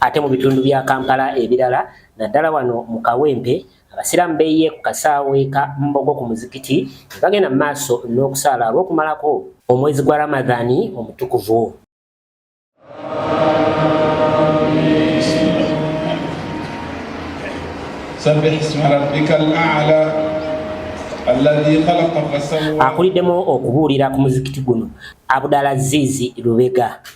Ate mu bitundu bya Kampala ebirala naddala wano mu Kawempe abasiraamu beeyiye ku kasaawe ka Mbogo ku muzikiti ne bagenda mu maaso n'okusaala olw'okumalako omwezi gwa Ramadhani omutukuvu. Akuliddemu okubuulira ku muzikiti guno Abdalazizi Lubega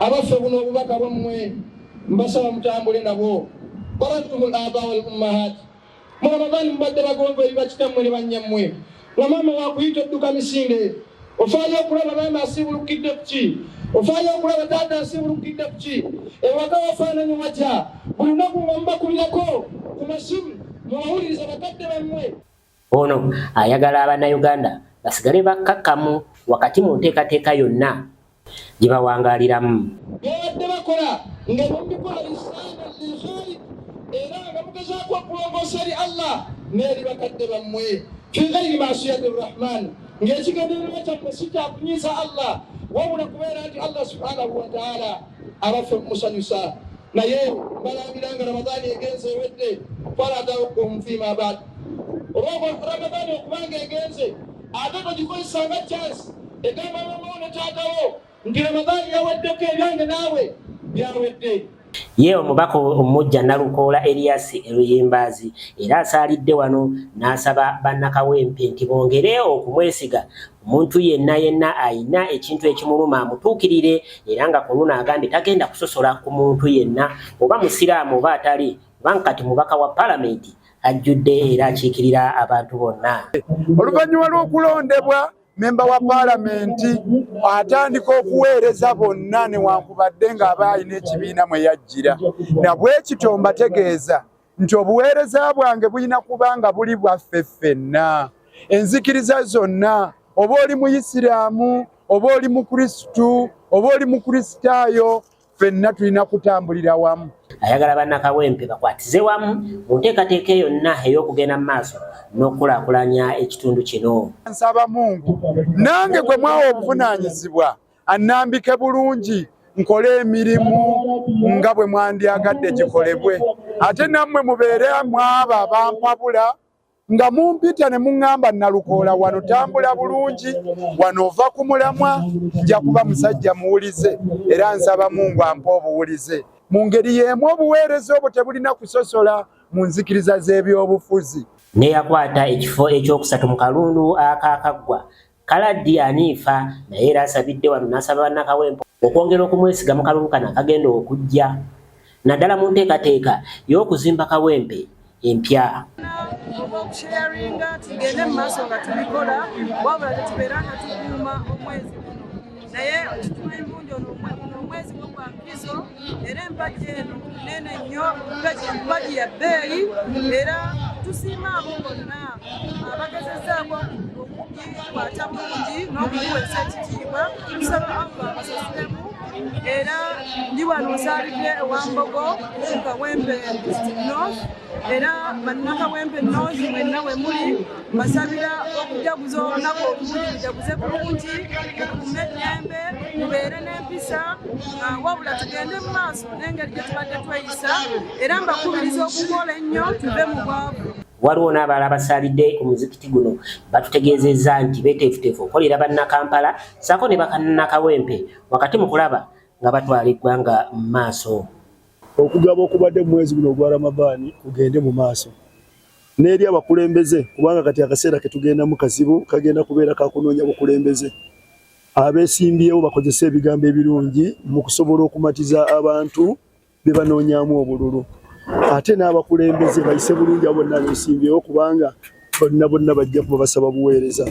abaffe buno obubaka bwammwe mbasaba mutambule nabwo barattumul aba wal ummahat mu ramadani mubadde bagonva eri bakitammwe ne bannyammwe nga maama wakuyita odduka misinde ofaayo okulaba maama asiibulukidde kuki ofaayo okulaba taata asiibulukidde kuki ewaka wafaananyi watya buli lunaku nga mubakubirako ku masimu mubawuliriza bakadde bammwe Ono ayagala abanayuganda basigale bakkakkamu wakati mu nteekateeka yonna gye bawangaaliramu. Babadde bakola nga bamikola lisaana lilkhalik era nga mugezaako okulongoosa eri Allah n'eri bakadde bammwe fi ghairi masiyati rrahman ng'ekigendererwa kyammwe si kyakunyiiza Allah wabula kubeera nti Allah subhanahu wataala abaffe mumusanyusa naye mbalambira nga ramadaani egenze ewedde faladakum fima bad olwokuba ramadani okubanga egenze ate togikozesa nga chance egamba mamawo ne taatawo nti ramadani yaweddeko ebyange naawe byawedde ye omubaka omujja nalukoola eriyasi eruyimbaazi era asaalidde wano n'asaba bannakawempe nti bongere okumwesiga omuntu yenna yenna ayina ekintu ekimuluma amutuukirire era nga ku luno agambye tagenda kusosola ku muntu yenna oba musiraamu oba atali kubanga kati mubaka wa palamenti ajjudde era akiikirira abantu bonna oluvannyuma lw'okulondebwa memba wa paalamenti atandika okuweereza bonna newankubadde ng'aba alina ekibiina mwe yajjira nabwekityo mbategeeza nti obuweereza bwange bulina kuba nga buli bwaffe ffenna enzikiriza zonna oba oli muyisiraamu oba oli mukrisitu oba oli mukristaayo fenna tulina kutambulira wamu. Ayagala bannakawempe bakwatize wamu mu nteekateeka yonna ey'okugenda mu maaso n'okukulaakulanya ekitundu kino. Nsaba Mungu nange gwe mwawa obuvunaanyizibwa annambike bulungi nkole emirimu nga bwe mwandyagadde gikolebwe ate nammwe mubeere mwaba bampabula nga mumpita ne muŋŋamba nnalukoola wano tambula bulungi wano ova ku mulamwa nja kuba musajja muwulize era nsaba mungu ampa obuwulize mu ngeri y'emu obuweereza obwo tebulina kusosola mu nzikiriza z'ebyobufuzi. Neyakwata ekifo ekyokusatu mu kalundu akaakaggwa Kaladi aniifa naye era asabidde wano n'asaba bannakawempo okwongera okumwesiga mu kalulu kano akagenda okujja naddala mu nteekateeka y'okuzimba kawempe empya. okusheyaringa tugende mu maaso nga tubikola wabula tetubeera nga tukuuma omwezi naye okituma embunja ono omwezi gwo gwa mpizo era empagi eno nene nnyo empagi ya bbeeyi era tusiima abo bonna abagezezaako okugikwata bulungi n'okugiwesa ekitiibwa tusaba allah abasasulemu era ndi wano nsaalidde ewambogo kawempe north era bannakawempe north mwenna we muli mbasabira okujaguza olunaku obulungi mujaguze bulungi mukume eddembe mubeere n'empisa ah, wabula tugende mu maaso n'engeri gye tubadde tweyisa era mbakubiriza okukola ennyo tuve mu bwavu waliwo n'abalala basaalidde ku muzikiti guno batutegeezezza nti beteefuteefu okolera bannakampala saako ne bakanakawempe wakati mu kulaba nga batwala eggwanga mu maaso okugaba okubadde mu mwezi guno ogwa ramadaani kugende mu maaso n'eri abakulembeze kubanga kati akaseera ketugendamu kazibu kagenda kubeera kakunoonya bukulembeze abesimbyewo bakozese ebigambo ebirungi mu kusobola okumatiza abantu bye banoonyamu obululu ate n'abakulembeze bayise bulungi abo bonna besimbyewo kubanga bonna bonna bajja kuba basaba buweereza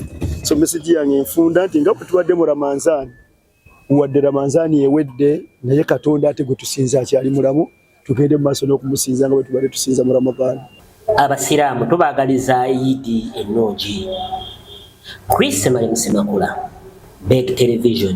so mesegi yange enfunda nti nga bwe tubadde mu ramanzaani wadde ramanzaani ewedde naye katonda ate gwe tusinza akyali mulamu tugende mu maaso n'okumusinza nga bwe tubadde tusinza mu ramadaani abasiraamu tubaagaliza idi ennungi chris malimusemakula beg television